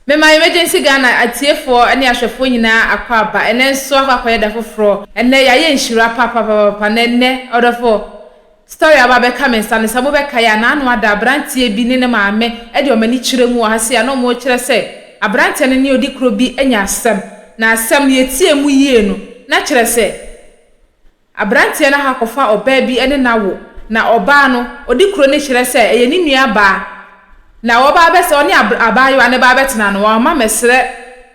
Mema Emergency Ghana atiefoɔ ne ahwɛfoɔ nyinaa akwaaba. Ɛnnɛ nso akɔ akɔyɛ da foforɔ. Ɛnnɛ yɛayɛ nhyira papaapapa na ɛnnɛ ɔdɔfoɔ Story a aba abɛka me nsa no sɛ mobɛkae a n'ano ada aberanteɛ bi ne ne maame de wɔn ani kyerɛ mu wɔ ha sei a na wɔrekyerɛ sɛ aberanteɛ no ne ɔdikuro bi anya asɛm na asɛm no yɛtiee mu yie no na kyerɛ sɛ Aberanteɛ no akɔfa ɔbaa bi ne no awo, na ɔbaa no, ɔdi kuro no kyerɛ sɛ ɛyɛ ne nua baa, na wɔba abɛsɛ ɔne ab, abaayewa no ba abɛtena no, wɔamma ammɛsrɛ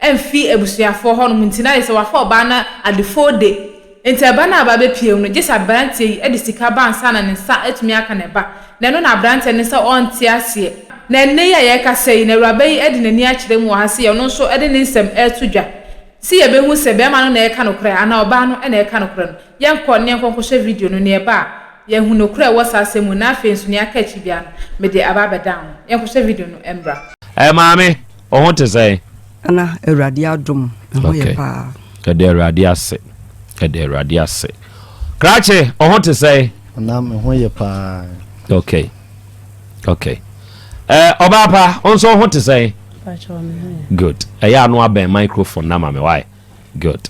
amfi abusuafoɔ hɔ nom nti, na ayɛ sɛ wɔafa ɔbaa no adefode. Enti ɛba no a aba abɛpue mu no, gye sɛ aberanteɛ yi de sika ba ansa na ne nsa atumi aka ne ba, na ɛno na aberanteɛ no sɛ ɔnte aseɛ. Na ɛnnɛ yi a yɛrekasa yi no, awuraba yi de n'ani akyerɛ mu wɔ ha sɛ ɔno nso de ne nsɛm reto dwa. Se yɛbɛhu sɛ bɛɛma no na ɛreka nokorɛ anaa ɔbaa no na ɛreka nokorɛ no, yɛnkɔ ne yɛnkɔ nkɔhwɛ video no, neɛ ɛba a, yɛahu nokorɛ a ɛwɔ saa asɛm mu no, na afei nso neɛ aka akyiri biara no, mede aba abɛdan ho. Yɛnkɔhwɛ video no mmra. Ɛɛ maame, wo ho te sɛn? Na Awurade adom, me ho yɛ paa. Ok, yɛda Awurade ase, yɛda Awurade ase. Krakye, wo ho te sɛn? Nana, me ho yɛ paa. Ok, ok. Ɛɛ ɔbaa pa, wo nso wo ho te sɛn? Good ɛyɛ ano abɛn microphone na ma me why good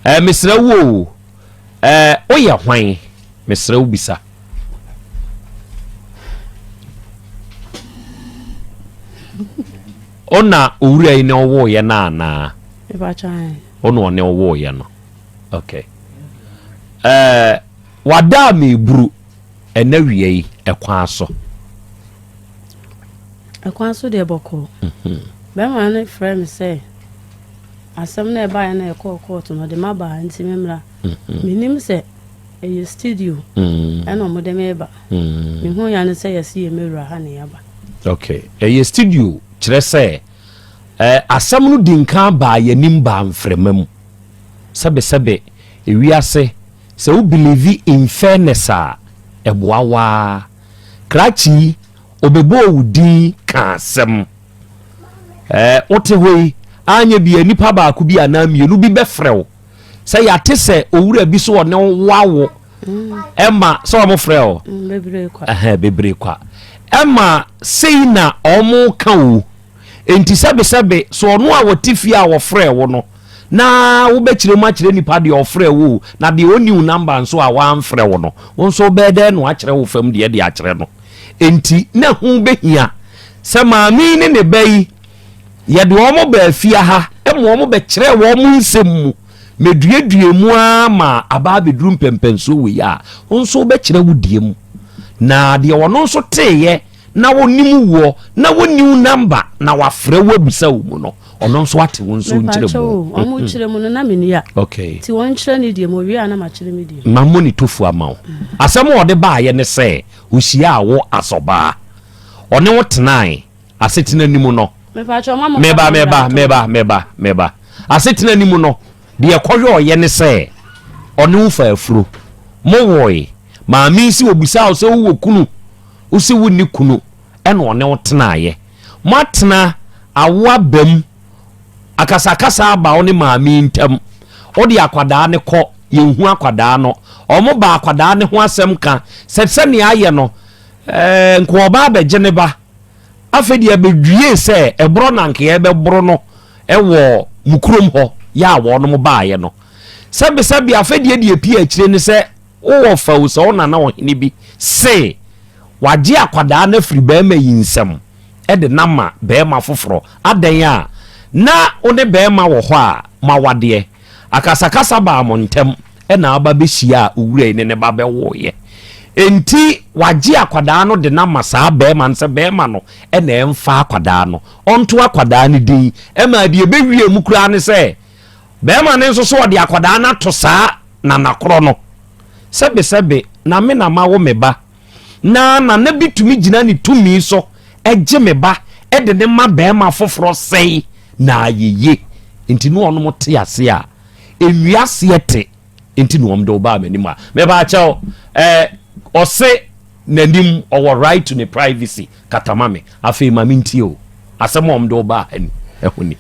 ɛɛ mesrɛ wo o ɛɛ woyɛ hwan mesrɛ wo bisa. ɔna owura yi na ɔwɔɔyɛ no anaa ɔna ɔne ɔwɔɔyɛ no okay ɛɛ wadaa me eburu. Ɛna wia yi ɛkwan so. Ɛkwan so deɛ bɔkɔɔ. Mhm. Bɛrima no frɛ me sɛ asɛm no ɛbaeɛ na ɛkɔɔ kɔɔto no ɔde ma baa nti memmra. Mhm. Menim sɛ ɛyɛ studio mhm. ɛna ɔmode me ba. Mehu ya no sɛ yɛse yɛ mɛwura ha na yɛaba. Ok, ɛyɛ studio kyerɛ sɛ eh, asɛm no di nka baa yɛnim baa mframa mu sɛbesɛbe ewiase Sɛ wo believe in fairness a ɛboa wo ara. Krakye yi ɔbɛbɔɔ wo din kaa asɛm. Ɛɛ wote hɔ yi anyɛ bia nipa baako bi anaa mmienu bi bɛfrɛ wo sɛ yɛate sɛ owura bi so ɔne wo awo ɛma sɛ wɔn frɛ wo mm, ɛhɛn bebree kwa ɛma sei na wɔn ka wo. Enti sɛbesɛbe, so ɔno a ɔte fie a ɔfrɛɛ wo no na wobɛkyerɛ mu akyerɛ nipa deɛ ɔfrɛɛ wo o, na deɛ ɔnni wo number nso a wamfrɛ wo no, wo nso wobɛyɛ dɛn na wakyerɛ wo fam deɛ de akyerɛ no? Enti na ɛho bɛhia sɛ maame yi ne ne ba yi, yɛde wɔn baa fie ha ma wɔn bɛkyerɛɛ wɔn nsɛm mu. Meduaduaa mu ara ma abaa bɛduru mpɛmpɛnsoɔ wei a, wo nso wobɛkyerɛ wo deɛ mu. Na deɛ ɔno nso teeɛ na wɔnim woɔ na wɔnni wo number na wɔafrɛ wo abusa wo mu no ɔno nso ate wo nso nkyerɛ mu ɔmo kyerɛ mu no na meni a okay ti wɔn kyerɛ ne deɛ mo wie a na makyerɛ me deɛ ma mo ne tofu ama wo asɛm a ɔde baayɛ ne sɛ ohyia a wo asɔbaa ɔne wo tenae asetena ni mu no meba meba meba meba meba asetena ni mu no deɛ kɔhwɛ ɔyɛ ne sɛ ɔne wo fa afuro mo wɔe maame si obusa wo sɛ wowɔ kunu Wo se wonni kunu ɛna ɔne wo tenaeɛ. Moatena awo aba mu. Akasakasa aba wo ne maame yi ntam. Wode akwadaa no kɔ, yɛnhu akwadaa no. Wɔn ba akwadaa no ho asɛm ka sɛ sɛnea ayɛ no, eh, nka ɔba abɛgye ne ba. Afei deɛ ɛbɛdwie sɛ ɛborɔ na nka yɛbɛboro no wɔ mo kurom hɔ yɛ a wɔnom baeɛ no. Sɛbesɛbe afei deɛ deɛ ɛpii akyire ne sɛ, Wowɔ fɛw sɛ wo nana ɔhene bi se wagye akwadaa no afiri barima yi nsam de no ama barima foforɔ. Adɛn a? Na wo ne barima wɔ hɔ a moawadeɛ. Akasakasa baa mo ntam na aba bɛhyiaa owura yi ne ne ba bɛwoeɛ. Enti wagye akwadaa no de no ama saa barima no sɛ barima no na ɛmfa akwadaa no, ɔnto akwadaa no din. Ɛmaa deɛ ɛbɛwiee mu koraa ne sɛ, Bɛɛma no nso so ɔde akɔdaa no ato saa nana korɔ no. Sɛbe sɛbe na me na mawo me ba. Na nana bi tumi gyina ne tumi so gye me ba de ne ma bɛɛma foforɔ sɛi na ayɛ ye. Nti ne ɔnom te ase a ɛnwi aseɛ te nti na ɔmde wo baa m'anim a. Mepaakyɛw eh, ɔse n'anim ɔwɔ right to ne privacy. Kata ma me, afei ma mentie o. Asɛm a wɔde wo baa ha ni, ɛho ni.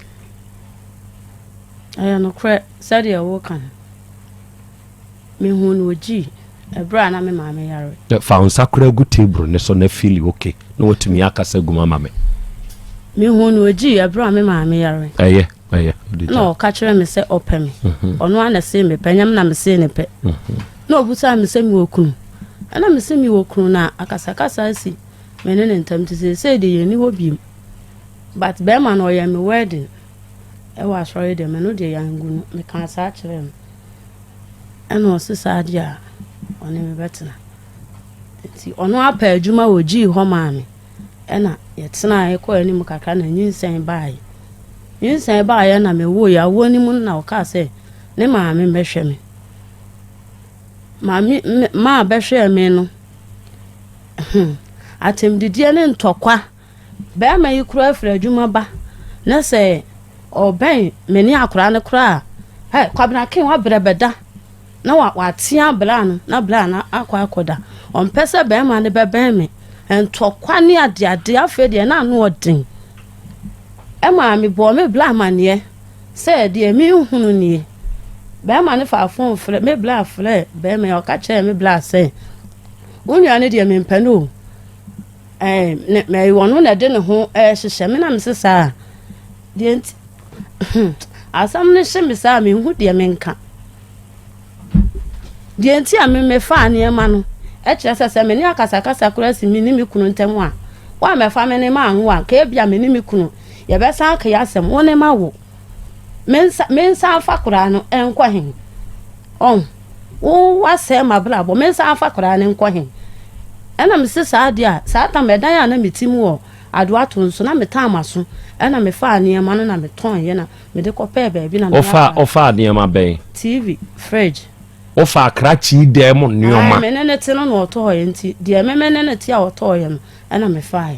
Ɛyɛ nokorɛ, sɛdeɛ woreka no, mehuu no ogyii ɛberɛ a na me maame yare. Fa wo nsa koraa gu table no so na feel okay na watumi akasa gu mu ama me. Mehuu no ogyii ɛberɛ a me maame yare. Ɛyɛ, ɛyɛ. Na ɔka kyerɛ me sɛ ɔpɛ me. Mhm. Ɔno ara na see me pɛ, nyɛ me na mesee ne pɛ. Mhm. Na ɔbusaa me sɛ mewɔ kunu. Ɛna me se mewɔ kunu na akasakasa asi. me ne ne ntam nti seesei deɛ yɛnni hɔ biem but bɛrima no ɔyɛ me wedding ɛwɔ asɔre deɛ me no deɛ yɛangu no mekaa saa kyerɛɛ no ɛna ɔse saa deɛ a ɔne me bɛtena nti ɔno apɛ adwuma wɔ gyii hɔ maa me ɛna yɛtena ɛkɔ anim kakra na nyinsɛn baeɛ nyinsɛn baeɛ na mewoo yɛ awoɔ no mu na ɔkaa sɛ ne maame mbɛhwɛ me maame maa bɛhwɛɛ me no Hmm. Atɛmdidie ne ntɔkwa. Bɛɛma yi koraa firi adwuma ba na sɛ ɔbɛn me ne akoraa no koraa a, ɛ Kwabena Ken wabrɛ bɛda na wa watea bra no na bra no akɔ akɔda. Ɔmpɛ sɛ bɛɛma no bɛbɛn me. Ntɔkwa ne adeade afei deɛ na ano ɔden. Ɛma me bɔɔ me bra amaneɛ sɛ deɛ me nhunu nie. Bɛɛma no faa fon frɛ me bra frɛ bɛɛma yi ɔka kyerɛɛ me bra sɛ wo nua no deɛ mempɛ no o ɛɛ ɔno na ɛde ne ho ɛɛhyehyɛ me na me se saa deɛ nti asɛm no hye me saa menhu deɛ menka deɛ nti a me mefaa nneɛma no ɛkyerɛ sɛ sɛ me ne akasakasa koraa si me ne me kunu ntam a wɔamɛfa me ne ma anwo a ka ebia me ne me kunu yɛbɛsan aka yɛ asɛm wo ne ma wo Mensa mensan mfa akwadaa no nkɔ he? Ɔn, wo wasɛe m'abrabɔ, mensan mfa akwadaa no nkɔ he? Ɛna mese saa deɛ a, saa tam ɛdan a na mete mu wɔ Adoato nso na metaa m'aso, ɛna mefaa nneɛma no na metɔnye na mede kɔpɛɛ baabi na Wofaa meyɛ wofaa nneɛma bɛn? TV, fridge. Wofaa krakyee dan mu Ae, nneɛma? me ne no te no na ɔtɔɔeɛ nti, deɛ me me ne no te a ɔtɔɔeɛ no, ɛna mefaae.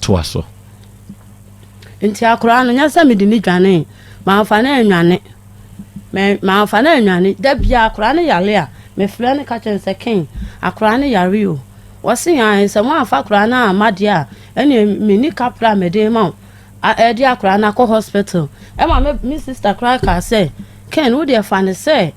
Toa so. Enti akora no, nyɛ sɛ mede no dwanee. Mamfa no annwane. Me, mamfa no annwane. Da biara akora no yare a, mefrɛ no ka kyerɛ no sɛ, Ken, akora no yare o. Ɔse, aane, sɛ moamfa akora no amma deɛ a, ɛneɛ menni kapra a mede rema wo de akora no akɔ hospital. Ɛma me, me sister koraa kaa sɛ, Ken, wodeɛ fa no sɛ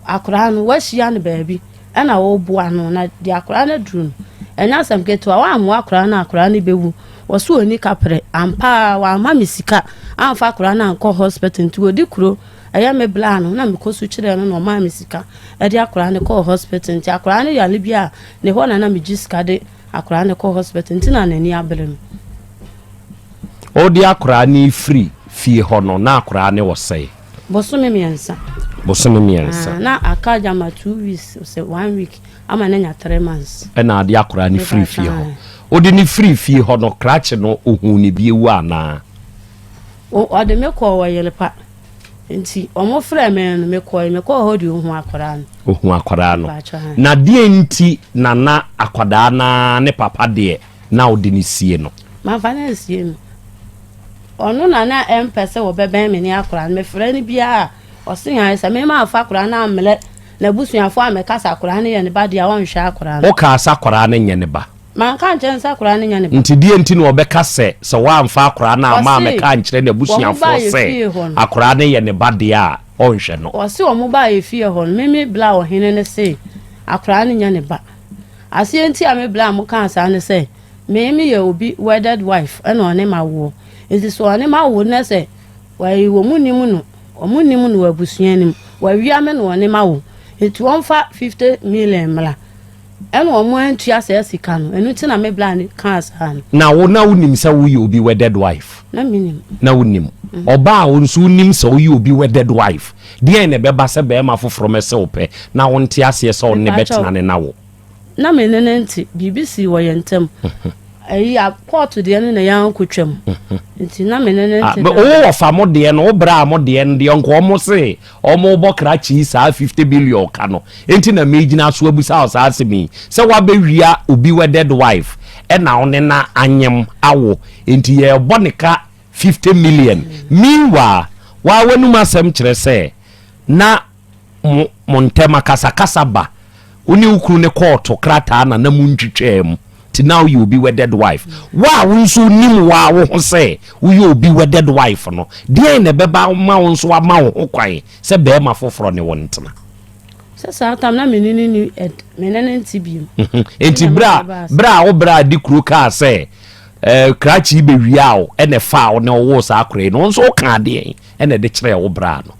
akwadaa no wɔahyia no baabi ɛna wɔreboa no na de akwadaa no aduru no ɛnyɛ asɛm ketewa wɔammoa akwadaa no akwadaa no bɛwu wɔso ani kaprɛ ampaa wɔamma me sika amfa akwadaa no ankɔ hospital nti wɔdi kuro ɛyɛ me bla no na mekɔ so kyerɛ no na ɔmaa me sika ɛde akwadaa no kɔɔ hospital nti akwadaa no yale bi a ne hɔ na na megye sika de akwadaa no kɔ hospital nti na n'ani abere no ɔde akwadaa no firi fie hɔ no na akwadaa no wɔ sɛe Bosome mmiɛnsa. Bosome mmiɛnsa. Ah, na aka agya ma two weeks sɛ one week ama ne nya three months. Ɛna ade akora ne firi fie hɔ. Ɔde ne firi fie hɔ no krakye no ohun ne bi ewu anaa. Ɔde me kɔɔ wɔ yere pa nti wɔn frɛ me no me kɔɔ me kɔɔ hɔ de ohun akora no. Ohun akora no. Na deɛ nti nana akwadaa na ne papa deɛ. na wode no sie no. Mamfa no ansie no. Ɔno na na ɛmpɛ sɛ wɔbɛbɛn me ne akwadaa no. Mefrɛ no biara a, ɔse hann sɛ me mamfa akwadaa no ammrɛ n'abusuafoɔ ammɛka sɛ akwadaa no yɛ ne ba deɛ a ɔnhwɛ akwadaa no. Wokaa sɛ akwadaa no nyɛ ne ba? Manka ankyerɛ no sɛ akwadaa no nyɛ ne ba. Nti deɛ nti na ɔbɛka sɛ sɛ woamfa akwadaa no amma ammɛka ankyerɛ n'abusuafoɔ sɛ akwadaa no yɛ ne ba deɛ a ɔnhwɛ no? Ɔse wɔn baeɛ fie hɔ no, me me bla ɔhene no se akwadaa no nyɛ ne ba. Aseɛ nti a me blam kaa saa ne sɛ me me yɛ obi wedded wife ɛna ɔne ma woɔ nti sɛ ɔne ma wo na sɛ wayi wɔn nim no wɔn nim no abusua nim wawia me na ɔne ma wo nti wɔn fa fifty million mmra ɛna wɔn antua saa sika no ɛnu ti na me blam kaa saa no. Na wo na wo nim sɛ wo yɛ obi wedded wife? Na me nim. Na wo nim. Ɔbaa wo nso wo nim sɛ wo yɛ obi wedded wife? Deɛn na ɛbɛba sɛ barima foforɔ mmɛsɛ wo pɛ na wonte aseɛ sɛ ɔno na ɛbɛtena ne na wo? Na me ne no nte, biribi sii wɔ yɛn ntam. Ayi, a kɔɔto deɛ no na yɛn ara kɔtwam. Nti na me ne no nte daa. Wo wɔfa mo deɛ no, wo braa mo deɛ no deɛ, nka wɔn se wɔrebɔ krakye yi saa fifty billion ka no. Enti na megyina so abusa wo saa asɛm yi, sɛ woabɛwia obi wedded wife ɛna wo ne no anyem, awo, enti yɛrebɔ ne ka fifty million meanwhile waa w'anum asɛm kyerɛ sɛ na mo mo ntɛm akasakasa ba wo ne wo kunu ne kɔɔto krataa na na mo ntwitwaa mu ti na woyɛ obi wedded wife wo a wo nso wonim wo a wo ho sɛ woyɛ obi wedded wife no deɛn na ɛbɛba ma wo nso ama wo ho kwan sɛ bɛrima foforɔ ne wo ntena sɛ saa tam na mene ne ni ɛd mene ne nti biem. nti berɛ a berɛ a wo berɛ a di kuro kaa sɛ Eh, krakye yi bewiaa wo ɛna ɛfaa wo na ɔwoo saa akora yi no nso wokaa deɛn ɛna ɛde kyerɛɛ wo braa no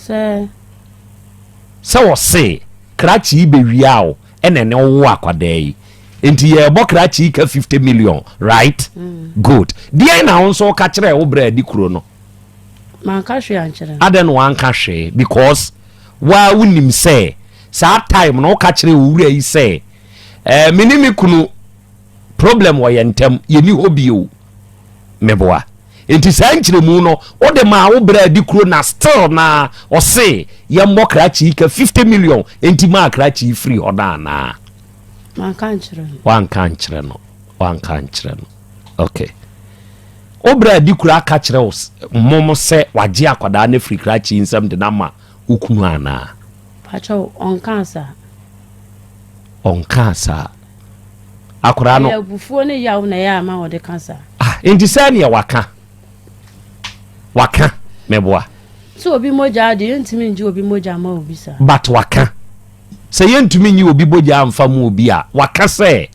sɛ sɛ ɔse krakye yi bewiaa wo ɛna ɛne ɔwoo akwadaa yi nti yɛbɔ krakye yi ka 50 million right mm. good deɛn na wo nso woka kyerɛɛ wo braa di kuro no manka hwee ankyerɛ adɛn na wanka hwee because waa wonim sɛ saa time na woka kyerɛ wo wura yi sɛ eh, mene me kunu problem wɔ yɛn ntam yɛni hɔ bio meboa nti saa nkyerɛmu no wode maa wo berɛ adi kuro na still na ɔse yɛmmɔ krakye ka 50 million nti maa krakye firi hɔ no anaa wanka nkyerɛ no wanka nkyerɛ no okay wobra adi kura aka kyerɛ wo mmom sɛ wagye akwadaa no firi krakye nsɛm de no ama wo kunu anaa ɔnkaa saa ɔnkaa saa Akwadaa no. Ɛyɛ abufuo ne yaw na ɛyɛ ama wɔde ka saa. Ah, nti sɛ neɛ waka. Waka, mɛboa. Sɛ obi mogya ade, yɛntumi ngye obi mogya ma obi saa. But waka. Sɛ yɛntumi nyi obi bogya amfa mu obi a, waka sɛ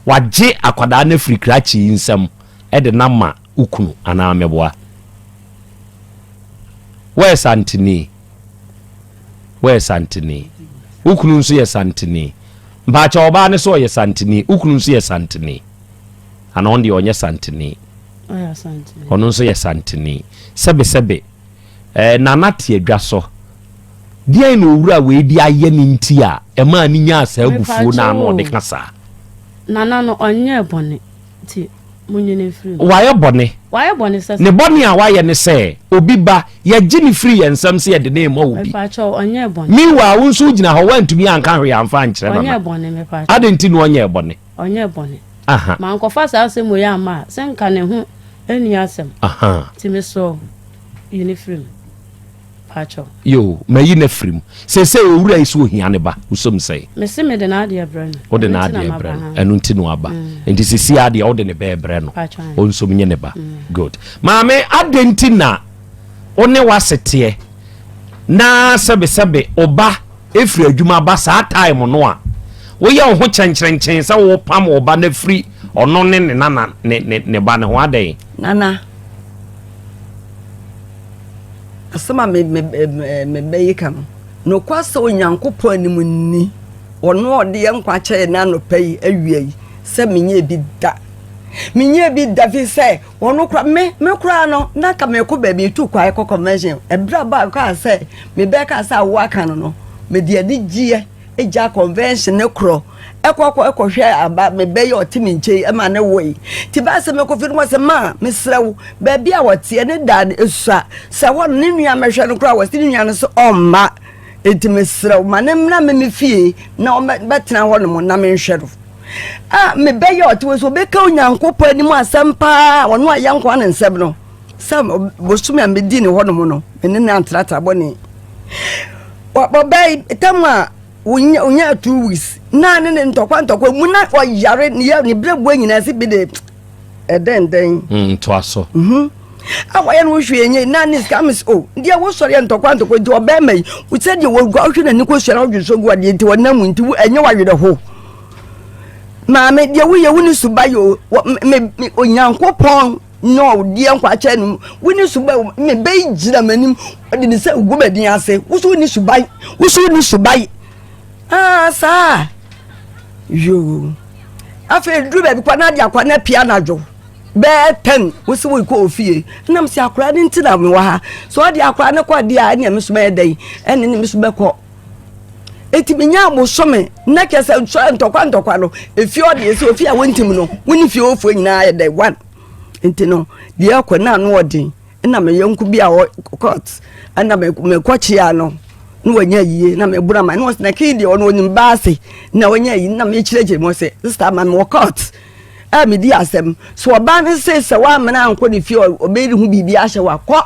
wagye akwadaa no afiri krakye yi nsam de no ama wo kunu anaa mmeboa. Woyɛ santene. Woyɛ santene. Wo kunu nso yɛ santene. Mpaakyɛ ɔbaa no sɛ ɔyɛ santene. Wo kunu nso yɛ santene. Ana ɔno deɛ ɔnyɛ santene. Ɔno nso yɛ santene. Sɛbesɛbe. Eh, nana te adwa so. Deɛn na owura wei de ayɛ ne nti a ɛmaa ne nyaa saa abufuo na ano ɔde ka saa. Nana no ɔnyɛɛ bɔne. nti, monnwene mfiri ho. Wayɛ bɔne. Wayɛ bɔne sɛ. Ne bɔne a wayɛ ne sɛ, obi ba, yɛgye no firi yɛn nsam sɛ yɛde no rema obi. Mepakyɛw, ɔnyɛɛ bɔne. Meanwhile, wo nso wogyina hɔ, woantumi anka hwee amfa ankyerɛ Nana. Ɔnyɛɛ bɔne, mepakyɛw. Adɛn nti na ɔnyɛɛ bɔne? Ɔnyɛɛ bɔne. Aha. Mankɔfa saa asɛm wei amma a, sɛ nka ne ho nni asɛm. Aha. Nti mesrɛ wo, yi no firi mu. pakyɛw. Yoo, mayi no afiri mu. Seesei owura yi so ohia ne ba, wusom sɛɛ? Mese mede n'adeɛ brɛ no. Wode n'adeɛ brɛ no, ɛno nti na waba. Nti seesei ara deɛ wode ne bɛ rebrɛ no, ɔnsom nye ne ba. Good. Maame, adɛn nti na wo ne w'aseteɛ na sɛbesɛbe wo ba firi adwuma ba saa time no a woyɛ wo ho kyɛnkyerɛnkyɛn sɛ wopam wo ba no afiri ɔno ne ne nana ne ne ne ba no ho adɛn? Nana. Asɛm a me me ɛɛ mebɛyi ka no, nokwar sɛ Onyankopɔn anim nni, Ɔno a ɔde yɛn nkwa kyɛɛ yɛn anɔpa yi awia yi, sɛ menyɛɛ bi da. Menyɛɛ bi da fi sɛ ɔno koraa me me koraa no na anka mekɔ baabi etu kwan akɔ convention. Ɛberɛ a baa kaa sɛ mebɛka sɛ awoɔ aka no no, mede anigyeɛ. gya convention ne korɔ ɛkɔ kɔ ɛkɔ hwɛ aba me bɛ yɛ ɔte me nkyɛn ɛma ne wɔ yi te baa sɛ mɛkɔ fi no wɔ sɛ maa mesrɛ wo baabi a wɔteɛ ne daa no ɛsua sɛ hɔ no ne nua mɛhwɛ no koraa wɔ sɛ ne nua no sɛ ɔmma ɛti mesrɛ wo ma ne mmra me me fie na ɔbɛtena hɔ no mu na menhwɛ no a mebɛyɛ ɔte wɔ sɛ ɔbɛka onyankopɔn anim asɛm paa ɔno a yɛnkoa ne nsɛm no Sɛ bosome a medi ne hɔnom no, me ne no antratra bɔne. Ɔbɛn tam a wonya two weeks na ne ne ntɔkwa ntɔkwa mu na ɔyare ne yɛ ne brɛboa nyinaa si bi de ɛdɛndɛn. Mm, ntoa so. Mhm. a wɔyɛ no wohwɛ ɛnyɛ na ne sika me o deɛ wosɔre yɛ ntɔkwa ntɔkwa nti ɔbɛrima yi sɛdeɛ wɔgua wohwɛ n'ani kɔsua na wodwe so gu adeɛ nti wɔnam mu nti ɛnyɛ wawerɛ ho maame deɛ woyɛ wo ne suba yɛ o onyankopɔn Nea ɔde yɛn nkwa akyɛ no mu. Wo ne suban wɔ me bɛyi gyina m'anim. Ɔde ne nsa gu m'adin ase. Wo so ni suban. Wo so ni suban. Aa ah, saa. Yoo. Afei duru baabi kwa na de akwa na pia anadwo. Bɛɛ tɛn wo se wo kɔ ofie. Nam si akora ne nti na me wɔ ha. So ɔde akora ne kɔ deɛ a ɛne me so bɛyɛ dɛn? Ɛne ne me so bɛkɔ. eti menyaa bosome na kyɛ sɛ nsɔre ntɔkwa ntɔkwa no efi ɔde esi ofi a wɔntim no wɔn ne fie ofoɔ nyinaa yɛ dɛ one nti no deɛ ɛkɔ na ano ɔden ɛna mɛ yɔnko bi a ɔkɔt ɛna mɛ mɛkɔ kyia no na wɔnyɛ yie na mɛ bura ma na wɔsɛ na kii deɛ ɔno onim baase na wɔnyɛ yie na mɛ kyerɛkyerɛ mu sɛ sista ma mɛ ɔkɔt a mɛ di asɛm so ɔbaa ne se sɛ wɔamena ankɔ ne fie ɔbɛyi ne ho biribi ahyɛ wakɔ.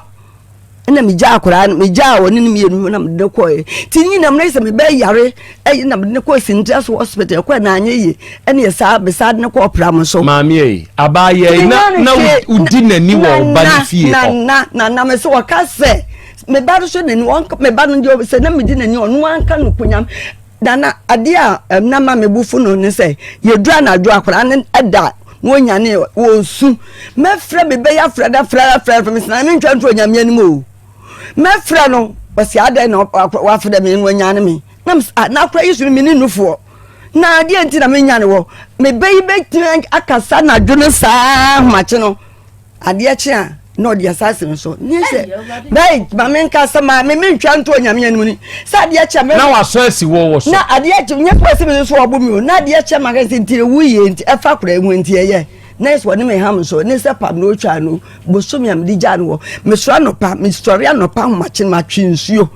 ɛna megya akwaraa no megyaa ɔne no mmienu na mede no kɔɛ nti ne nyinam no sɛ mebɛyare ɛyɛ na mede no kɔɔ sintra so hospital ɛkɔɛ na anyɛ yie ɛne yɛ saa besaa de no kɔɔ pram so maameɛ yi abaayɛ yi na na wodi n'ani wɔ ɔba ne fie hɔ na na na me sɛ wɔka sɛ meba no so n'ani wɔnka meba no deɛ sɛ na medi n'ani ɔno anka no konyam dana adeɛ a ɛnama me bufu no ne sɛ yɛdura anadwo akwaraa no ɛda Wonyanee ɔ, wonsu. Mɛfrɛ me bɛ yi afrɛ no, afrɛ no, afrɛ no, afrɛ me sena me ntwa nto Onyame anim o. Mɛfrɛ no, ɔse adɛn na ɔ, wafrɛ me na wanyane me? Na mese, ah, na akora yi so no mene nufoɔ, na adeɛ nti na menyane wɔ? Me bɛ yi bɛtumi akasa anadwo no saa ahomakye no? adeɛ kye a na ɔde asa asɛm nso nyɛ sɛ bɛyi ma me nka sɛ maa me me ntwa nto onyame anim ni sɛ adeɛ kye a na wasɔ asi wɔ wɔ so na adeɛ kye nyɛ kura sɛ me nso ɔbo mi o na adeɛ kye ma kɛse nti ewu yie nti ɛfa kura ehu nti ɛyɛ na yɛ sɛ wɔne me ham nso ne sɛ pam na otwa no bosomi a me de gya no wɔ me soro anɔpa me sɔre anɔpa ahomakye no matwe nsuo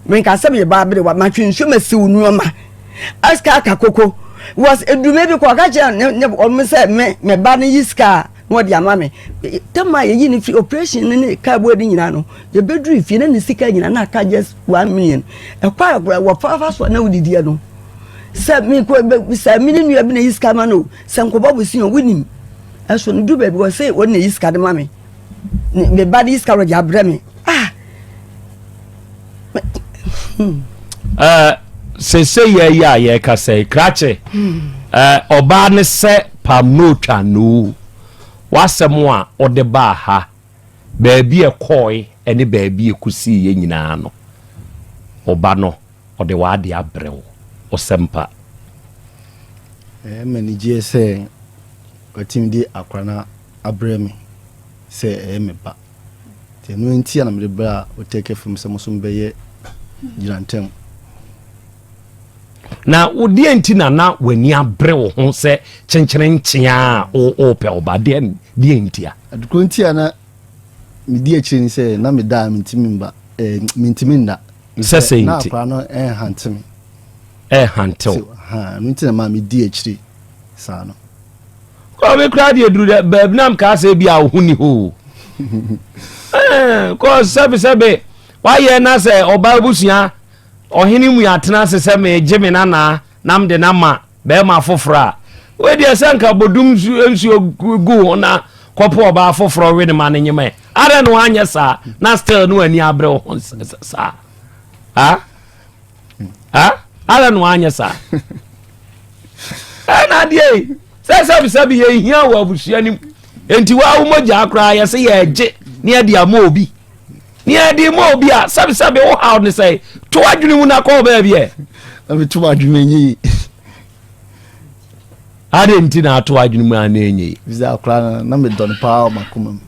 me nka sɛ me yɛ baa bere wa matwe nsuo ma siw nneɛma asika aka koko was edume bi kɔ ɔka kyerɛ ne ne wɔn sɛ me me ba ne yi sika na ɔde ama me tam a yɛyi no firi operation no ne kaa bɔɔ de nyinaa no yɛbɛduru fie na ne sika nyinaa na aka just one million ɛkɔ a kora wɔfaafa so a na wodidiɛ no sɛ mekɔbisa me ne nua bi na yi sika ma no sɛ nkɔbɔ bosin ɔ wonim ɛso no du baabi wɔ sɛ ɔne yi sika de ma me meba de yi sika wɔde abrɛ me ah eh, sese yɛ yi a yɛrekasa yi krakye eh, ɔbaa ne sɛ pam no otwa no wasɛm a ɔde baa ha baabi ɛkɔɔe ɛne baabi ɛkosii yɛ nyinaa no ɔba no ɔde waade abrɛ wo ɔsɛmpa ɛma ne gyeɛ sɛ watumi de akora no abrɛ me sɛ ɛyɛ me ba Nti ɛno ntia na mede bra Oteke fam sɛ moso mbɛyɛ gyina ntɛm. Na wodeɛ nti na na w'ani abere wo ho sɛ kyenkyene nkyea a wopɛ wo ba deɛ deɛ ntia? Adekuro ntia na medi akyire ni sɛ na meda a mentimi mba eh, mentimi nda. Sɛ sɛ nti. Na akora no ɛnhante me. Ɛnhante wo. Ɛno nti na ma medi akyire saa no. kɔ me koraa deɛ duru dɛ baabi na mkaa sɛ bi a wo ho ni hɔ o kɔ sɛbesɛbe wayɛ na sɛ ɔbaa abusua ɔhene mu atena ase sɛ megye me nanaa na mede no ama bɛrima foforɔ a wei deɛ sɛ nka bɔdum nsuo gu ho na kɔpo ɔbaa foforɔ we ne ma no nyemɛ adɛn na wanyɛ saa na still no ani abrɛ wo ho saa ha ara na wanyɛ saa ɛna adeɛ yi sɛ sɛbisɛbi yɛ hia wɔ abusua no mu nti wa wo mogya koraa yɛ sɛ yɛgye ne yɛde ama obi ne yɛde ma obi a sɛbisɛbi wo haw ne sɛ to adwene mu na kɔɔ baabi ɛ ɛbi to adwene nyɛ yi ade nti na ato adwene mu a na ɛnyɛ yi bisa koraa na medɔ no paa ɔmakoma mu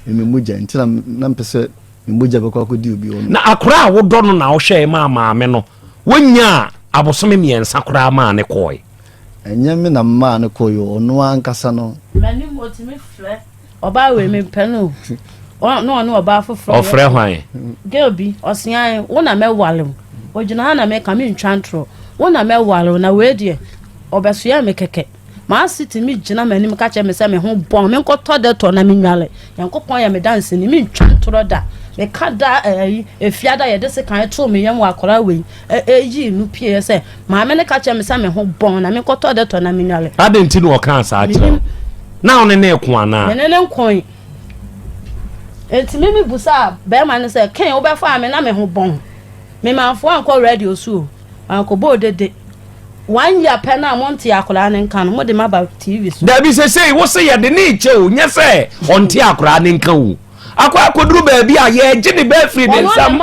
ɛmɛ mogya nti na mpɛ sɛ Ne mogya bɛkɔ akɔdi obi hɔ. Na akora a wodɔ no na wohwɛe maa maame no, wonyaa abosome mmiɛnsa koraa maa ne kɔe. Ɛnyɛ me na maa no kɔe o, ɔno ankasa no. M'anim otumi frɛ ɔbaa wei mempɛ no o, na ɔne ɔbaa foforɔ yɛ. Ɔfrɛ hwan? Girl bi, ɔseae, wo na mɛware wo. Ogyina ha na meka, mentwa ntorɔ. Wo na mɛware wo, na wei deɛ, ɔbɛsoɛ me kɛkɛ. M'ase tumi gyina m'anim ka kyerɛ me sɛ me ho bɔn, menkɔtɔ dɛtɔ na menwale. Nyankopɔn yɛ me danseni, mentwa ntorɔ da. Meka daa ɛyi, eh, efiada a yɛde sekan too me yam wɔ akwadaa wei ɛyi eh, no pieɛ sɛ maame no ka kyerɛ me sɛ me ho bɔn na menkɔtɔ dɛtɔ na menwale. Adɛn nti na ɔkaa saa kyerɛ wo? Na wo ne ne ko anaa? Me ne ne nkoe. Enti me mebusaa bɛrima no sɛ, Ken, wobɛfaa me na me ho bɔn. Memanfoɔ ankɔ radio so o. Mankɔbɔ odede. One year pɛ no a monte akoraa no nka no, mode me aba TV so. Dabi sesei wo se yɛde ne rekyɛ o, nyɛ sɛ ɔnte akoraa no nka o. Akɔ akɔduru baabi a, yɛregye ne ba afiri ne nsam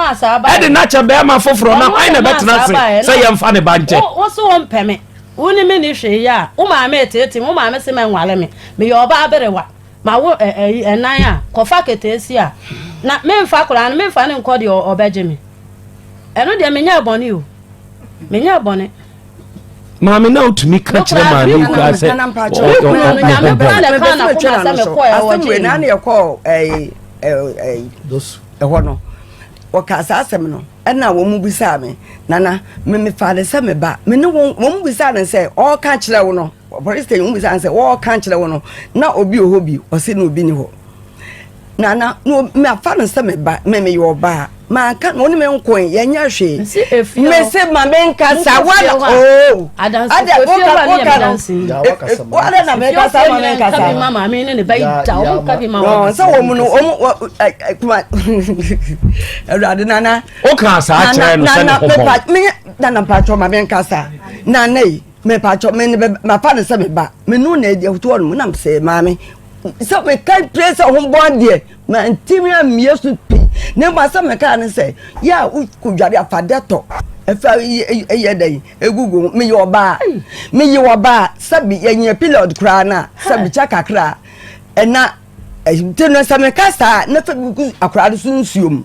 de no akyɛ barima foforɔ na hwan na ɛbɛtena ase sɛ yɛmfa ne ba nkyɛ? Wo se wompɛ me, wo ne me nni hwee yɛ a, wo maame reteete me, wo maame se mɛnware me, meyɛ ɔbaa berewa. Ma wo ɛ ɛ yi ɛnan a, kɔfa keteesia. Na memfa akwadaa no, memfa no nkɔ deɛ ɔbɛgye me. Ɛno deɛ menyɛɛ bɔne o. Menyɛɛ bɔne. Maame na wotumi ka kyerɛ maame yi koraa sɛ Nyame koraa na ɛkaa n'akoma sɛ mekɔɛ wɔ gyee mu. Asɛm yɛkɔɔ ɛyi ɛyi ɛhɔ no wɔkaa saa asɛm no ɛna wɔn mu bisaa me nana me mefaa ne sɛ me ba me ne wɔn wɔn mu bisaa ne sɛ ɔɔka kyerɛ wo no. Ɔpolisini no bisa no sɛ, Wɔreka akyerɛ wo no, na obi wɔ hɔ bi? Ɔse, Na obi nni hɔ. Na na mafa no sɛ me ba, me meyɛ ɔbaa. Manka no, ɔne me nkoe, yɛnyɛ hwee. Mese, Ma menkasa, woana oo. Ada, woka, woka no. Woana na mekasa, ma menkasa. Ɔnka bi ma maame ne ne ba yi da, ɔnka bi ma wɔn. Sɛ wɔn mu no, wɔn, kuma, Awurade, nana. Woka saa kyerɛ no sɛ ne ho bɔn. Nana, mepa, nana, mpakyɛ, ma menkasa. Nana yi. Mepakyɛw me ne bɛba mafa no sɛ meba me no na adi afoto hɔ nom nam sɛ maame sɛ meka pie sɛ ho bɔ adeɛ mantimi ammie so pi na mmom asɛ meka ne sɛ yɛ a wokɔdware afa dɛtɔ ɛfa yɛ dɛn ɛgugu ho meyɛ ɔbaa meyɛ ɔbaa sɛ bi yɛnyɛ period koraa no a sɛ bikyɛ kakra ɛna nti no sɛ meka saa na fɛ bi gu akora no so nsuom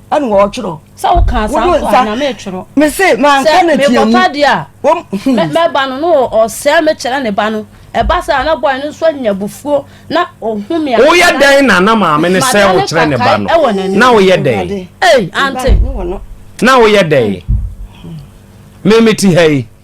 ɛna wɔretwerɛ. sɛ wokaa saa nso a na meretwerɛ. mese manka no tiamu. sɛ mekɔtɔ adeɛ a hmm. mɛba no no ɔsɛe mekyerɛ ne ba no ɛba sɛ ana bɔe no nso anya bufuo na ɔhu me woyɛ dɛn na na maame ne sɛ wokyerɛ ne ba no na woyɛ dɛn ante na woyɛ dɛn memete ha yi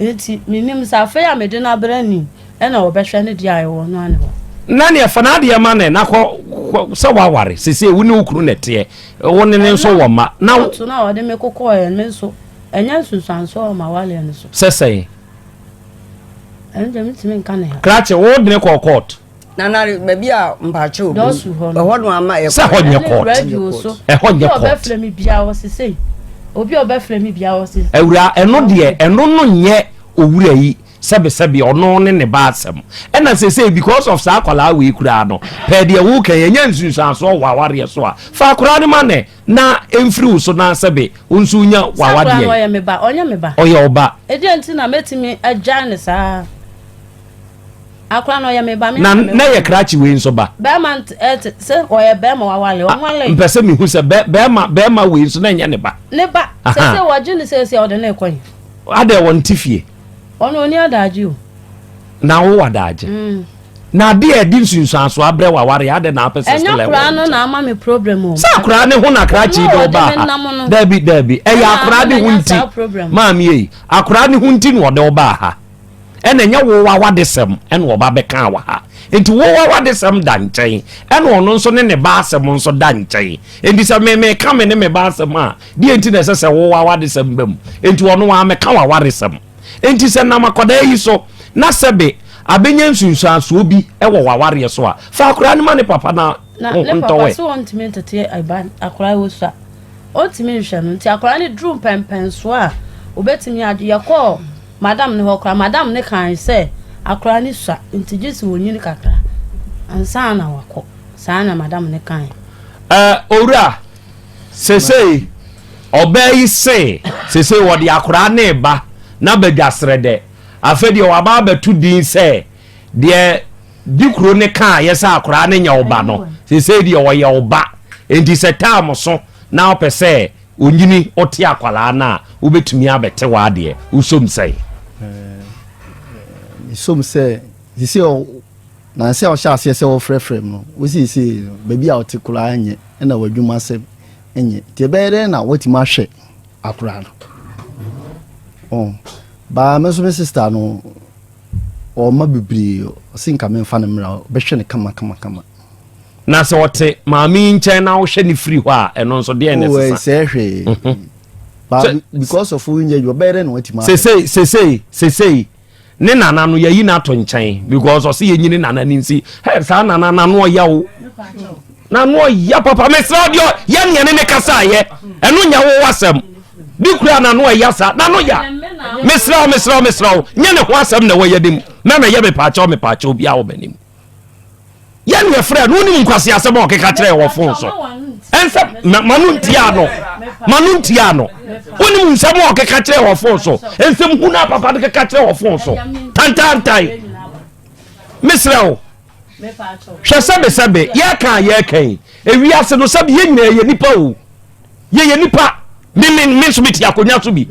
Enti menim sɛ afei a mede no abrɛ ni na wɔbɛhwɛ ne deɛ a ɛwɔ no ano. Na neɛ fa n'adeɛ ma no na kɔ sɛ woaware sesei wo ne wo kunu na ɛteɛ wo ne ne nso wɔ mma na. Ɛna to no a wɔde me kokɔeɛ no me nso ɛnyɛ nsunsuansoɔ wɔ m'awareɛ no so. Sɛ sɛn? Ɛno deɛ mentumi nka ne ha. Krakye, wode ne kɔɔ court? nanare baabi a mpakyɛ obi dɔsu hɔ no ɛhɔ no ama ɛkɔ sɛ ɛhɔ nyɛ court radio so ɛhɔ nyɛ court obi a ɔbɛfrɛ mi bia wɔ se sei obi a ɔbɛfrɛ mi bia wɔ se awura ɛno deɛ ɛno no nyɛ owura yi sɛbesɛbe ɔno ne ne ba asɛm ɛna sesei because of saa akwadaa wei koraa no pɛɛ deɛ woka yɛ nyɛ nsunsuansoɔ wɔ awareɛ so a fa akwadaa no ma nɛ na mfiri wo so na sɛbe wo nso nya wawadeɛ ɔyɛ ɔba ɛdeɛ nti na mɛtumi agyae ne saa akora no ɔyɛ me ba me na na yɛ krakye wei nso ba bɛrima ɛte sɛ ɔyɛ bɛrima wawale ɔnwale mpɛ sɛ mehu sɛ bɛrima bɛrima wei nso na ɛnyɛ ne ba ne ba sɛ sɛ wɔgye ne sɛ sɛ ɔde ne kɔn adɛ wɔn ti fie ɔno ɔni adagye o na wo wadagye mm. na ade a ɛde nsunsuanso abrɛ waware adɛ na apɛ sɛ ɛnyɛ akora no na ama me problem o sɛ akora ne ho na krakye de ɔba ha dabi dabi ɛyɛ akora ne ho nti maame yi akora ne ho nti na ɔde ɔba ha ɛna ɛnyɛ wo w'awadesɛm ɛna ɔba bɛkaa wɔ ha nti wo w'awadesɛm da nkyɛn ɛna ɔno nso ne ne ba asɛm nso da nkyɛn nti sɛ meme ka me ne me ba asɛm a deɛ nti na ɛsɛ sɛ wo w'awadesɛm bam nti ɔno wa mɛka w'awaresɛm nti sɛ nam akɔdaa yi so na sɛbe abɛnya nsunsuansoɔ bi ɛwɔ w'awareɛ so a fa akora no ma ne papa na na ne papa so ɔntumi ntete ɛba akora wɔ so a ɔntumi nhwɛ no nti akora no duru mpɛmpɛnsoɔ a obɛtumi ade yɛkɔɔ Madam ne hɔ koraa. Madam no kae sɛ akwadaa no sua nti gye sɛ ɔnyini kakra ansa na wakɔ. Saa na madam no kae. Eh, owura, seesei ɔbaa yi se seesei wɔde akwadaa no reba no abadwa Srɛdɛ. Afei deɛ wɔaba abɛto din sɛ deɛ Dikuro no kaeɛ sɛ akwadaa no nyɛ wo ba no, seesei deɛ ɔyɛ wo ba. Enti sɛ taam so na wopɛ sɛ Onyini ɔte akwadaa no a wobɛtumi abɛte w'adeɛ wosom sɛn? Mesom sɛ sisei nanse a ɔhyɛ aseɛ sɛ wɔfrɛfrɛ m no wo seesei no baabi a ɔte koraa nyɛ ɛna w'adwuma sɛm nyɛ nti ɛbɛyɛ dɛn na woatumi ahwɛ akoraa no oh, baa me nso me sista no ɔma bebree ɔse nka memfa no mmra bɛhwɛ no kama kama kama Na sɛ ɔte maame yi nkyɛn na wohwɛ ne firi hɔ a ɛno nso deɛ ne sesa. ɛsɛ hwee. Mhm. But because of wo nyɛ adwuma bɛyɛ dɛ na watumi ahwɛ. Sesei sesei sesei ne nana no yɛyi n'ato nkyɛn because ɔsi yɛ nyini nana ni nsi hɛ saa nana n'ano ɔya o n'ano ɔya papa mesra ɔdi ɔ yɛ nea ne ne kasa yɛ ɛno nya wo wasɛm bi kura n'ano ɔya saa n'ano ya mesra mesra mesra o nye ne ho asɛm na ɛwɔ yɛ ne mu mɛmɛ yɛ mepaakyɛw mepaakyɛw bi a wɔ mɛ ne mu. yɛ ne ɛfrɛ no wonim nkwase asɛm a ɔkeka kyerɛ wɔ fon so ɛnsɛ ma no ntia no ma no ntia no wonim nsɛm a ɔkeka kyerɛ wɔ fon so nsɛm hu no a papa no keka kyerɛ wɔ fon so tantantan mesrɛ wo hwɛ sɛbesɛbe yɛka a yɛka yi ewiase no sɛbe yɛ nyinaa yɛ nipa o yɛyɛ nipa meme me nso mete akonnwa so bi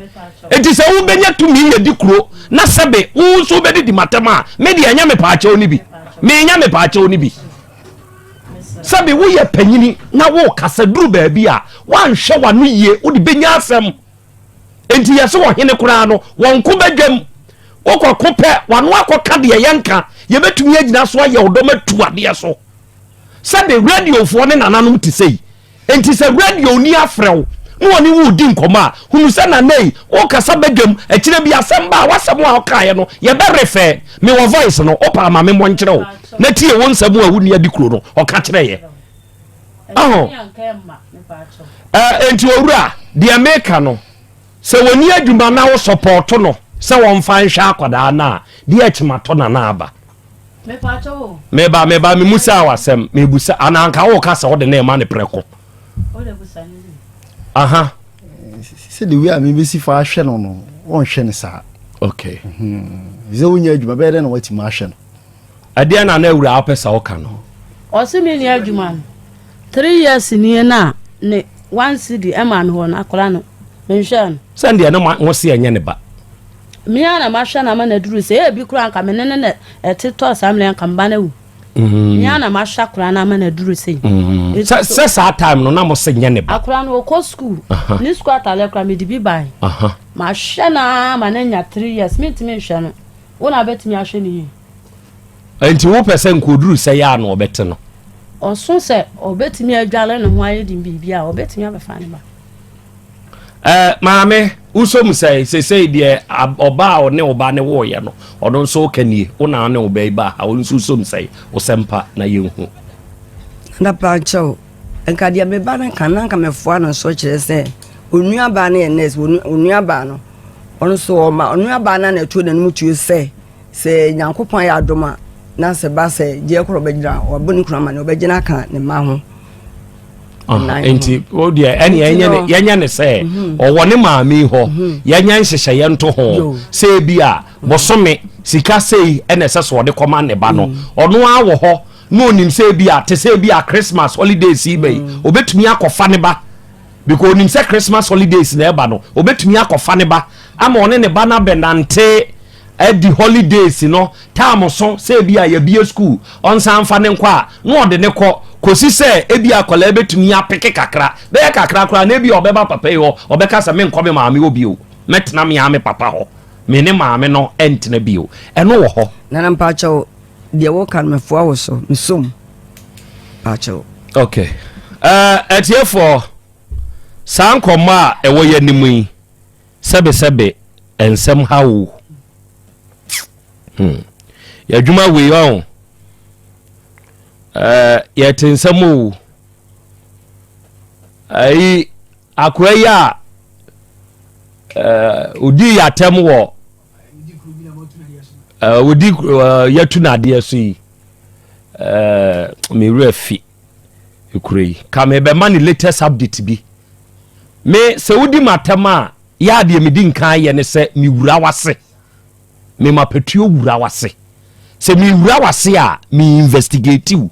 enti sɛ wobɛnya tumi yɛ di kuro na sɛbe wo nso wobɛde di matam a medeɛ ɛnyɛ me paakyɛw no bi menya me paakyɛw no bi sɛbe woyɛ panyini na wokasa duru baabi a woanhwɛ w'ano yie wode bɛnya asɛm enti yɛ sɛ ɔhene koraa no wɔnko bɛdwam wokɔko pɛ w'ano akɔka deɛ yɛnka yɛbɛtumi agyina so ayɛ wo dɔm atu adeɛ so sɛde radiofoɔ ne nananom te sɛ yi nti sɛ radio ni afrɛ wo na ɔne wo di nkɔmɔ a hunu sɛ nana yi wokasa badwam akyire bi asɛm ba a wasɛm a ɔkaeɛ no yɛbɛrefɛ me wɔ voice no wopɛ ama me mmɔ nkyerɛ wo na tie wo nsɛm a wonni adi kuro no ɔka kyerɛ yɛ aho nti owura deɛ meka no sɛ wɔni adwuma na wo sɔpɔɔto no sɛ wɔmfa nhwɛ akwadaa no a deɛ akyima tɔ nana aba meba meba me musaa wasɛm mebusa anaa nka woka sɛ wode ne ɛma ne prɛko aha sɛ de wei a mebɛsi fa ahwɛ no no wɔnhwɛ no saa okay mhm. sɛ wonya adwuma bɛyɛ dɛ na woatumi ahwɛ no ɛdeɛ na na awura wopɛ sɛ woka no ɔse me nya adwuma no three years nie no a ne one cd ɛma no hɔ no akora no menhwɛ no sɛndeɛ ne mo se ɛnyɛ ne ba Me ara na mahwɛ no ama no aduru sɛ ebi koraa nka me ne no na ɛte tɔɔ saa mmerɛ nka mba no awu mm. me ara na mahwɛ koraa no ama no aduru sei mm. sɛ saa time no na mo se nyɛ ne ba akora no ɔkɔ school ne school atalɛ koraa mede bi bae mahwɛ no ara ma no anya three years mentumi nhwɛ no wo na bɛtumi ahwɛ no yie nti wopɛ sɛ nkɔduru sɛ yɛ a na ɔbɛte no ɔso sɛ ɔbɛtumi adwale ne ho ayɛ de biribi a ɔbɛtumi abɛfa ne ba Eh, maame, wosɔ mu sɛn? Sesei deɛ ɔba a ɔne wo ba ne woeɛ no, ɔno nso woka nie, wo na ɔne wo ba yi baa ha, wo nso wosɔ mu sɛn? Wosɛ mpa na yɛnhu. Na pakyɛ o, nka deɛ me ba no ka na nka mɛfoa no nso kyerɛ sɛ onuabaa no yɛ nurse, onuabaa no ɔno nso ɔma onuabaa no na ɛto n'anim tuo sɛ sɛ nyankopɔn ayɛ adom a na sɛ ba sɛ gyeɛ korɔ bɛgyina ɔbɔ ne kunu ama ne ɔbɛgyina ka ne ma ho nti o deɛ ɛne yɛnyɛ ne sɛ mhm. ɔwɔ ne maame hɔ mhm. yɛnyɛ nhyehyɛeɛ nto ho sɛ bi a mhm. bosome sika sei ɛna ɛsɛ sɛ ɔde kɔma ne ba no ɔno ara wɔ hɔ na ɔnim sɛ bi a te sɛ bi a christmas holidays yi bɛyi ɔbɛtumi akɔfa ne ba because ɔnim sɛ christmas holidays na ɛba no ɔbɛtumi akɔfa ne ba ama ɔne ne ba no abɛnante adi holidays no term so sɛ ebi a yɛbie school ɔnsan mfa ne nkɔ a na ɔde ne kɔ kɔsi sɛ ebi akwadaa bɛtumi apeke kakra bɛyɛ kakra koraa na ebi a ɔbɛba papa yi hɔ ɔbɛka sɛ menkɔ me maame hɔ bio mɛtena me ara me papa hɔ me ne maame no ɛntena bio ɛno wɔ hɔ nana mpakyɛw deɛ wɔka no mefoa wo so mesom mpakyɛw ok ɛtiefoɔ eh, saa nkɔmmɔ a ɛwɔ yɛ anim yi Sɛbe sɛbe nsɛm ha o. Hmm. Yɛadwuma wei ɔn. Eh, yɛte nsɛm o. Ayi, akora yi a eh, odi yɛatɛm wɔ eh, odi eh, yɛtu n'adeɛ so yi. Eh, me werɛ fi. Ɛkura yi. Ka me bɛma ne latest update bi. Me sɛ wodi m'atɛm a yɛ adeɛ medi nkan yɛ ne sɛ me wura wase. Me ma patuo wura wase. Sɛ me wura wase a me investigate wo.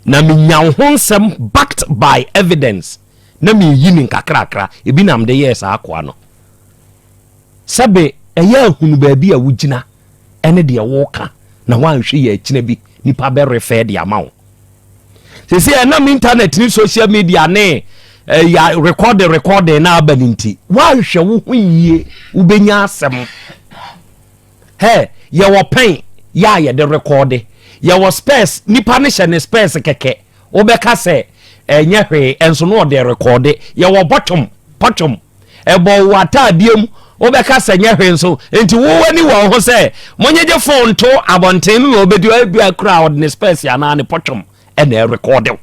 Na me nya wo ho nsɛm backed by evidence. Na me yi ne nkakrakra. Ebi na mde yɛ saa akoa no. Sɛbe ɛyɛ a hunu baabi a wogyina ne deɛ woreka na woanhwɛ yɛ akyina bi nipa bɛrefɛ de ama wo. Sese ɛnam intanɛt ne social media ne ɛyɛ eh, rekɔde rekɔde na aba ne nti woanhwɛ wo ho yie wobɛnya asɛm. Hɛ yɛwɔ pɛn yɛ a yɛde rekɔde yɛwɔ spɛs nipa ne hyɛ ne spɛs kɛkɛ wobɛka sɛ ɛnyɛ hwee nso na ɔde rekɔɔde yɛwɔ bɔtwom pɔtwom ɛbɔ wo ataadeɛ mu wobɛka sɛ nyɛ hwee nso nti wo ani wɔ ho sɛ monyegye fon nto abɔnten no na ɔbɛdi ɛbi akura a ɔde ne spɛs anaa ne pɔtwom ɛna ɛrekɔɔde wo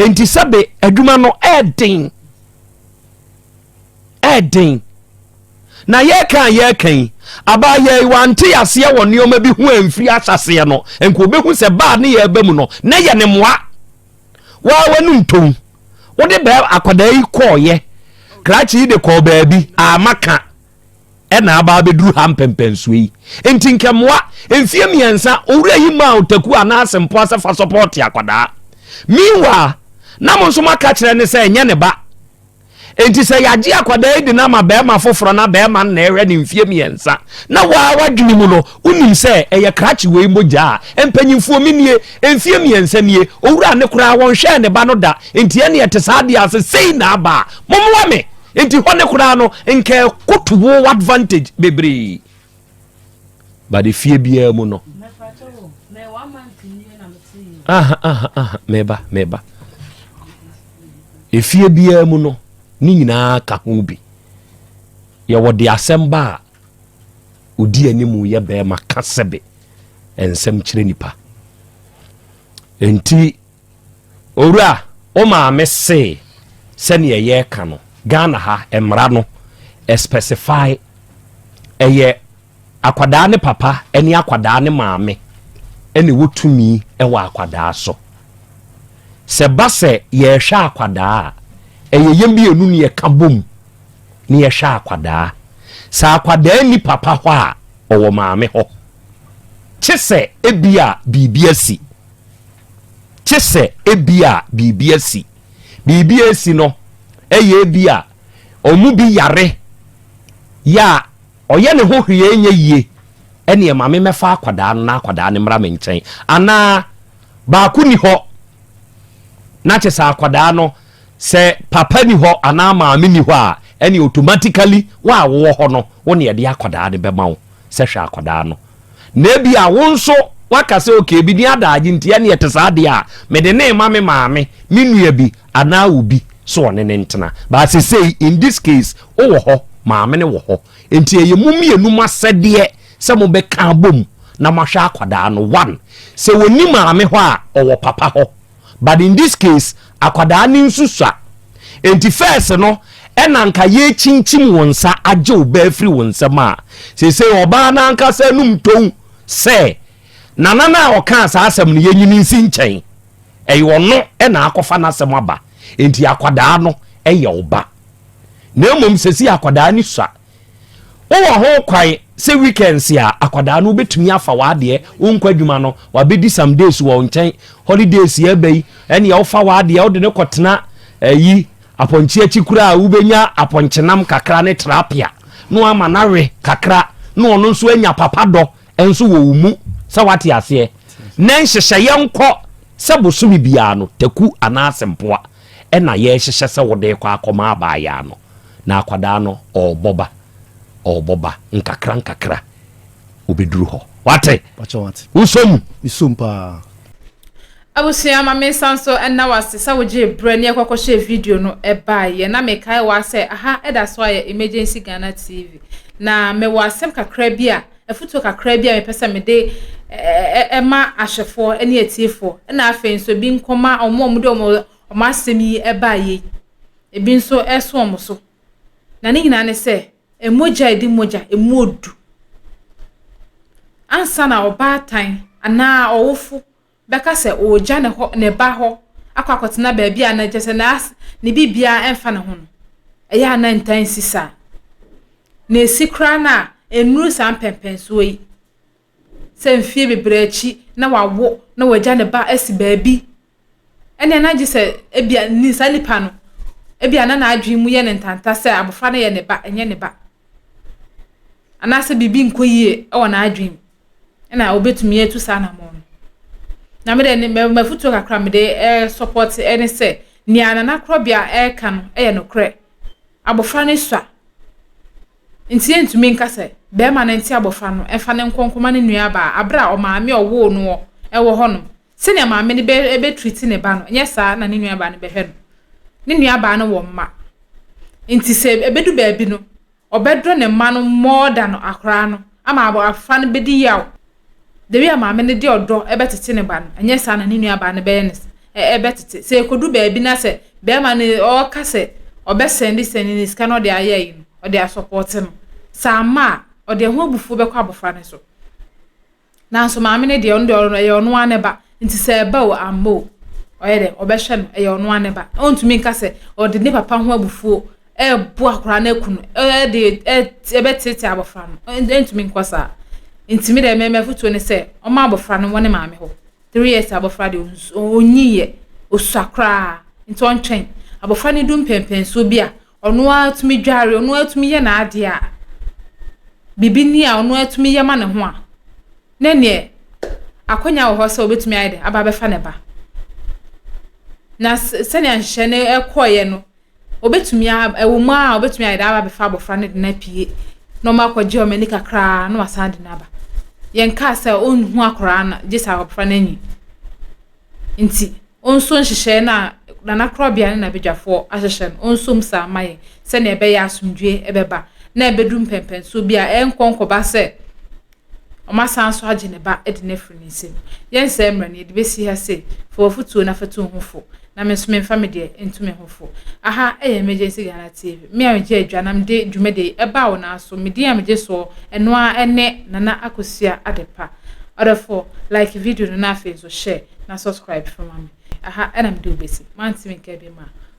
nti sɛbe adwuma no ɛden ɛyɛ den. Na yɛreka a yɛreka yi, abaa yɛ wante aseɛ wɔ nneɛma bi ho amfiri ahyɛseɛ no, nka wobɛhu sɛ baa ne yɛ ɛba mu no, na yɛ ne mmoa. Waa w'ani ntom. Wode bɛɛ akwadaa yi kɔɔyɛ, krakye yi de kɔɔ baabi, ama ka, ɛna abaa bɛduru ha mpɛmpɛnsoɔ yi. Nti nka mmoa, mfie mmiɛnsa, owura yi maa otaku anaa asempoa sɛ fa sɔpɔɔte akwadaa. Meanwhile, na mo nso moaka kyerɛ ne sɛ ɛnyɛ ne ba. Enti sɛ yɛagye akwadaa yi de no ama barima foforɔ na barima no na ɛrehwɛ no mfeɛ mmiɛnsa na wo ara w'adwene mu no wonim sɛ ɛyɛ krakye wei mogya a mpanimfoɔ me nie, mfeɛ mmiɛnsa nie, owura no koraa wɔnhwɛɛ ne ba no da enti ɛnne ɛte saa adeɛ ase sei na aba a mommoa me. Enti hɔ no koraa no nka ɛkɔto wo advantage bebree. but efie biara mu no aha aha aha meba meba efie biara mu no ne nyinaa ka ho bi yɛwɔ de asɛm ba a odi anim yɛ bɛrima ka sɛbe nsɛm kyerɛ nipa nti Owura, wo maame se sɛdeɛ yɛka no, Ghana ha mmara no specify ɛyɛ akwadaa ne papa ne akwadaa ne maame ɛna ɛwɔ tumi ɛwɔ akwadaa so. Sɛ ba sɛ yɛhwɛ akwadaa a, ɛyɛ yɛn mmienu ne yɛka bom ne yɛhwɛ akwadaa. Sɛ akwadaa ni papa hɔ a, ɔwɔ maame hɔ. Kye sɛ ebi a biribi asi. Gye sɛ ebia biribi asi. Biribi a asi no yɛ ebia wɔn mu bi yare yɛ a ɔyɛ ne ho hwee a ɛnyɛ yie, ɛnneɛ ma memmɛfa akwadaa no na akwadaa no mmra me nkyɛn. Anaa baako nni hɔ na kyɛ sɛ akwadaa no, sɛ papa nni hɔ anaa maame nni hɔ a, ɛnneɛ automatically wo a wowɔ hɔ no, wo na yɛde akwadaa no bɛma wo sɛ hwɛ akwadaa no. na ebia wo nso woaka sɛ, Okay, ebi ne adaagye nti, ɛnneɛ ɛte saa deɛ a, mede no rema me maame, me nua bi, anaa obi sɛ ɔne no ntena. But sesei, in this case, wowɔ hɔ, maame no wɔ hɔ. Enti ɛyɛ mo mmienu mo asɛdeɛ sɛ mobɛka abom na moahwɛ akwadaa no. One, sɛ ɔnni maame hɔ a, ɔwɔ papa hɔ. but in this case akwadaa no nso sua nti first no ɛna nka yɛkyinkyim wo nsa agye wo baa firi wo nsɛm a seesei ɔbaa no ankasa anum tɔn sɛ nana no a ɔkaa saa asɛm no yɛnyini nsi nkyɛn ɛyɛ ɔno ɛna akɔfa n'asɛm aba nti akwadaa no ɛyɛ ɔba na mmom sɛsi akwadaa no sua Wowɔ ho kwan sɛ weekends a akwadaa no wobɛtumi afa w'adeɛ, wo nkɔ adwuma no, wabɛdi some days wɔ wo nkyɛn, holidays yɛ ɛbɛ yi, ɛneɛ wofa w'adeɛ wode no kɔtena ɛyi apɔnkye akyi kura a wobɛnya apɔnkyenam kakra ne trapia na wama no awe kakra na ɔno nso anya papa dɔ nso wɔ wo mu sɛ wate aseɛ na nhyehyɛeɛ nkɔ sɛ bosome biara no taku anaasɛ mpoa ɛna yɛhyehyɛ sɛ wode kɔ akɔma abaayaa no na akwadaa no ɔɔbɔ ba ɔɔbɔ ba nkakra nkakra obeduru hɔ wate wosɔ mu mesɔ paa abusua ma me nsa nso ɛna wase sɛ wogye brɛ ne ɛkɔkɔ hyɛ video no ɛbaa yɛ na mekae waa sɛ aha ɛda so ayɛ emergency Ghana TV na mewɔ asɛm kakra bi a afutuo kakra bi a mepɛ sɛ mede ɛma ahwɛfoɔ ne atiefoɔ ɛna afei nso bi nkɔma ɔmo ɔmo de ɔmo ɔmo asɛm yi ɛbaa yɛ ebi nso ɛso wɔn so. Na ne nyinaa ne sɛ, mogya a ɛdi mogya, ɛmu odu. Ansa na ɔbaatan anaa ɔwofo bɛka sɛ ɔregya ne hɔ ne ba hɔ akɔ akɔtena baabi a na kyerɛ sɛ na ne biribiara mfa ne ho no, ɛyɛ a na ntaa nsi saa. Na esi koraa no a, ennuru saa mpɛmpɛnsoɔ yi. sɛ mfeɛ bebree akyi na wawo na wagya ne ba asi baabi, ɛnneɛ na gye sɛ ebia ni saa nipa no, ebia na n'adwene mu yɛ no ntanta sɛ abɔfra no yɛ ne ba, ɛnyɛ ne ba. Anaasɛ biribi nkɔ yie wɔ n'adwene mu, ɛna ɔbɛtumi atu saa anamɔn no. Na me deɛ ne mafutuo kakra mede ɛresɔpɔte eh, ɛne sɛ nea nana korɔbea ɛreka no yɛ nokorɛ. Abɔfra no sua. Enti yentumi nka sɛ barima no nte abofra no mfa no nkɔ nkɔma ne nuabaa bere a ɔmaame a ɔwoo no wɔ wɔ hɔ no. Sɛnea maame no bɛ bɛtriti ne ba no, nyɛ saa na ne nuabaa no bɛhwɛ no. Ne nuabaa no wɔ mma. Enti sɛ ɛbɛdu baabi no, ɔbɛdɔ ne mma no more than akoraa no ama abofra no bɛdi yaw da bi a maame no de ɔdɔ bɛtete ne ba no, ɛnyɛ saa na ne nuabaa no bɛyɛ ne ɛbɛtete. Sɛ ekodu baabi na sɛ bɛrima no ɔka sɛ ɔbɛsɛnde sɛnde ne sika na ɔde ayɛ ayi no, ɔde asɔpɔte no. Sɛ amma a, ɔde ɛho abufuo bɛkɔ abɔfra no so. Nanso maame no deɛ ɔno deɛ ɔno ɛyɛ ɔno ara ne ba. Nti sɛ ɛba o amma o, ɔyɛ dɛ ɔbɛhwɛ no, ɛyɛ ɔno ara ne ba. Ɔntumi nka sɛ ɔde ne papa ho abufuo ɛrebo akwadaa no aku no ɛde ɛbɛteetee abɔfra no ɛntumi nkɔ saa ntumi dɛ mɛmɛ fotuo ne sɛ ɔma abɔfra no wɔ ne maame hɔ three years abɔfra deɛ ɔnyi yɛ osua koraa nti ɔntwɛn abɔfra no du mpɛmpɛnsuo bi a ɔno ara tumi dware ɔno ara tumi yɛ n'adeɛ a biribi ni a ɔno ara tumi yɛ ma ne ho a ne neɛ akɔnya wɔ hɔ sɛ ɔbɛtumi ayɛ dɛ aba abɛfa ne ba na sɛnea nhyehyɛ no ɛkɔɔyɛ no. Obetumi a, ɛwɔ mu a obetumi ayɛ dɛ aba abɛfa abɔfra no de no apue na ɔma akɔgye ɔma ani kakraa na wasan de no aba. Yɛnkaa sɛ ɔnhu akwaraa no gye sɛ abɔfra no anyi. Nti, ɔnso nhyehyɛe no a Nana Korɔbea ne n'abadwafoɔ ahyehyɛ no, ɔnso mu saa ma yɛn sɛnea ɛbɛyɛ asomdwoe bɛba na ɛbɛdu mpɛmpɛnsoɔ bi a ɛrenkɔ nkɔba sɛ Wɔasan nso agye ne ba de no afiri ne nsam. Yɛnsɛe mmara no, yɛde bɛsi ha sei. Fa w'afotuo no afatu wo ho fo, na me nso memfa me deɛ ntu me ho fo. Aha yɛ Emergency Ghana TV. Me a megye adwa na mede dwumadie yi ɛbaa wo nan so. Me din a megye soɔ, ɛno ara ne Nana Akosua Adepa. Ɔdɔfoɔ, like video no na afei nso share na subscribe fa ma me. Aha na mede wo bɛsi. Mantumi nka bi mma.